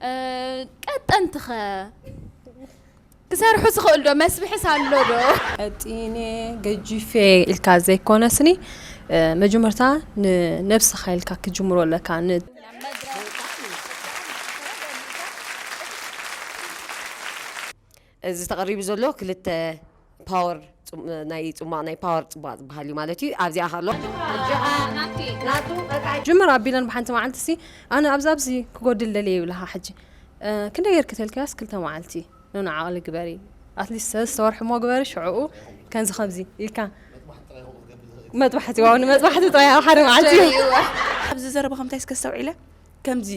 ቀጠንቲ ከ ክሰርሑ ዝኽእል ዶ መስብሕስ ኣሎ ዶ? ቀጢነ ገጂፈ ኢልካ ዘይኮነስኒ መጀመርታ ንነብስኻ ኢልካ ክጅምሮ ኣለካ ን እዚ ተቀሪቡ ዘሎ ክልተ ፓወር ናይ ጽሟቅ ናይ ፓወር ጽሟቅ ዝበሃል እዩ ማለት እዩ ኣብዚኣ ከሎ ኣጆኻ ናቲ ናቱ በቃ ጅምር ኣቢለን ብሓንቲ መዓልቲ ሲ ኣነ ኣብዚ ኣብዚ ክጎድል ደልየ ይብላኻ ሕጂ ክንደይ ጌርኪ ተልክያስ ክልተ መዓልቲ ኖኖ ዓቕሊ ግበሪ ኣትሊስት ሰለስተ ወርሒ እሞ ግበሪ ሽዕኡ ከምዚ ከምዚ ኢልካ መጥባሕቲ ዋው ንመጥባሕቲ ጥራይ ኣብ ሓደ መዓልቲ ኣብዚ ዘረባኹም እንታይ እስከ ኣስተውዒለ ከምዚ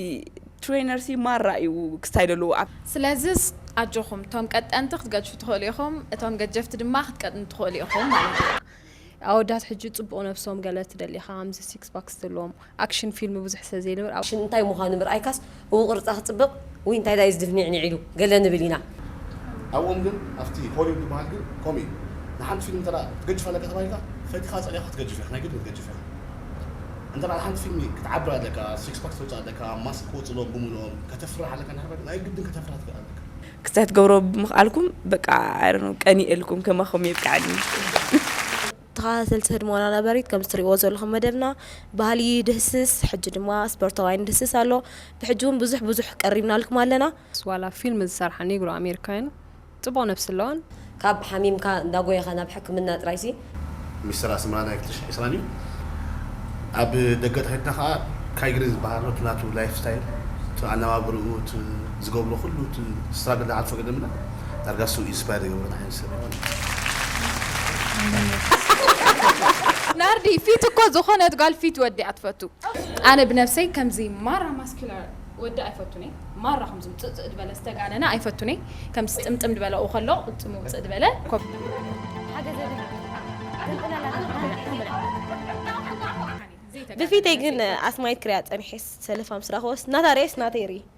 ትሬነር ሲ ማራ እዩ ክስታይ ደለዎ ኣብ። ስለዝስ ኣጆኹም እቶም ቀጠንቲ ክትገድፉ ትኽእሉ ኢኹም እቶም ገጀፍቲ ድማ ክትቀጥኑ ትኽእሉ ኢኹም ማለት እዩ። ኣወዳት ሕጂ ጽቡቅ ነብሶም ገለ ትደሊ ኢኻ ኣምዚ ሲክስ ፓክ ዝተልዎም ኣክሽን ፊልም ብዙሕ ስለ ዘይንብር ኣብ። ሽን እንታይ ምዃኑ ምርኣይካስ ብውቅርጻ ክጽብቅ ውይ እንታይ ዳዩ ዝድፍ ኒዕኒዕ ኢሉ ገለ ንብል ኢና። ኣብኦም ግን ኣብቲ ሆሊውድ ዝበሃል ግን ከምኡ እዩ ንሓንቲ ፊልም እንተ ክትገጅፍ ኣለካ ተባሂልካ ፈቲኻ ጸሊእኻ ክትገጅፍ ኢኻ ናይ ግድን ክትገጅፍ ኢኻ እንተ ንሓንቲ ፊልሚ ክትዓብር ኣለካ ሲክስ ፓክ ክተውጽእ ኣለካ ማስክ ክወጽእሎም ብምልኦም ከተፍርሕ ኣለካ እንድሕር ኮይንካ ናይ ግድን ከተፍርሕ ትክእል ኣለካ ክተትገብሮ ብምኽኣልኩም በቃ I don't know ቀኒኤልኩም ከማኹም የብቀዐኒ። ተኸታተልቲ ህድሞና ነበሪት ከምዚ ትሪእዎ ዘለኹም መደብና ባህሊ ይድህስስ ሕጂ ድማ ስፖርታውያን ይድህስስ ኣሎ ብሕጂ ውን ብዙሕ ብዙሕ ቀሪብናልኩም ኣለና። ዋላ ፊልም ዝሰርሓ ኔግሮ ኣሜሪካውያን ጽቡቕ ነብሲ ኣለዋን። ካብ ሓሚምካ እንዳጎየኻ ናብ ሕክምና ጥራይ ሲ። ሚስተር ኣስመራ ናይ ክልተ ሽሕ ዕስራን እዩ ኣብ ደገ ተከድካ ከኣ ካይግሪ ዝብሃል ኣሎ እቲ ናቱ ላይፍ ስታይል እቲ ኣነባብርኡ እቲ ዝገብሮ ኩሉ እቲ ስትራግል ንዓርፎ ገደምና። ዳርጋ እሱ ኢንስፓየር ዝገብረኒ ዓይነት ሰብ እዩ ማለት እዩ። ናርዲ ፊት እኮ ዝኾነት ጋል ፊት ወዲ እያ ትፈቱ። ኣነ ብነብሰይ ከምዚ ማራ ማስኩላር ወዲ ኣይፈቱን እየ ማራ ከምዚ ውጽእጽእ ድበለ ዝተጋነነ ኣይፈቱን እየ ከምዚ ጥምጥም ድበለ ኡ ከሎ ቅልጽሙ ውጽእ ድበለ ብፊተይ ግን ኣስማይት ክሪኣ ጸኒሐስ ሰለፋ ምስ ረኣክዎስ ናታ ሪኤስ ናተይ ሪኢ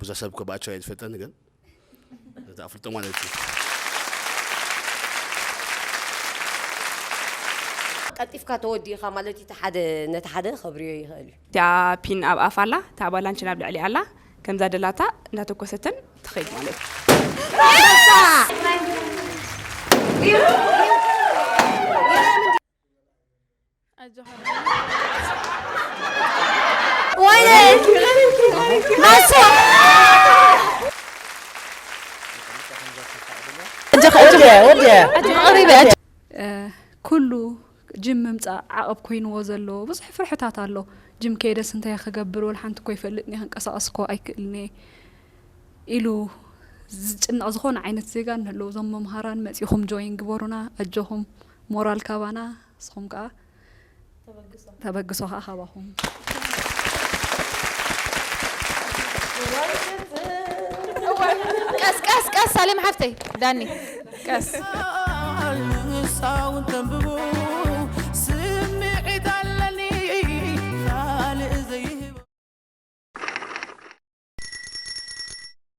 ብዙሕ ሰብ እኮ ብኣቸው ኣይትፈልጠኒ ግን ነቲ ኣፍልጦ ማለት እዩ ቀልጢፍካ ተወዲእኻ ማለት እቲ ሓደ ነቲ ሓደ ከብርዮ ይኽእል እዩ። እቲኣ ፒን ኣብ ኣፋ ኣላ እታ ኣባላንች ናብ ልዕሊኣ ኣላ ከምዛ ደላታ እንዳተኮሰትን ትኸይድ ማለት እዩ። ኩሉ ጅም ምምፃእ ዓቐብ ኮይንዎ ዘሎ ብዙሕ ፍርሕታት ኣሎ ጅም ከይደስ እንታይ ክገብር ወል ሓንቲ እኮ ይፈልጥኒ ክንቀሳቀስ እኮ ኣይክእልኒ ኢሉ ዝጭነቕ ዝኾነ ዓይነት ዜጋ ንህልው እዞም መምሃራን መፂኹም ጆይን ግበሩና ኣጆኹም ሞራል ካባና ንስኹም ከኣ ተበግሶ ከኣ ካባኹም ቀስ ቀስ ቀስ ሳሌም ሓፍተይ ዳኒ ቀስ ንሳውን ተንብቡ ስምዒት ኣለኒ ካልእ ዘይህቦ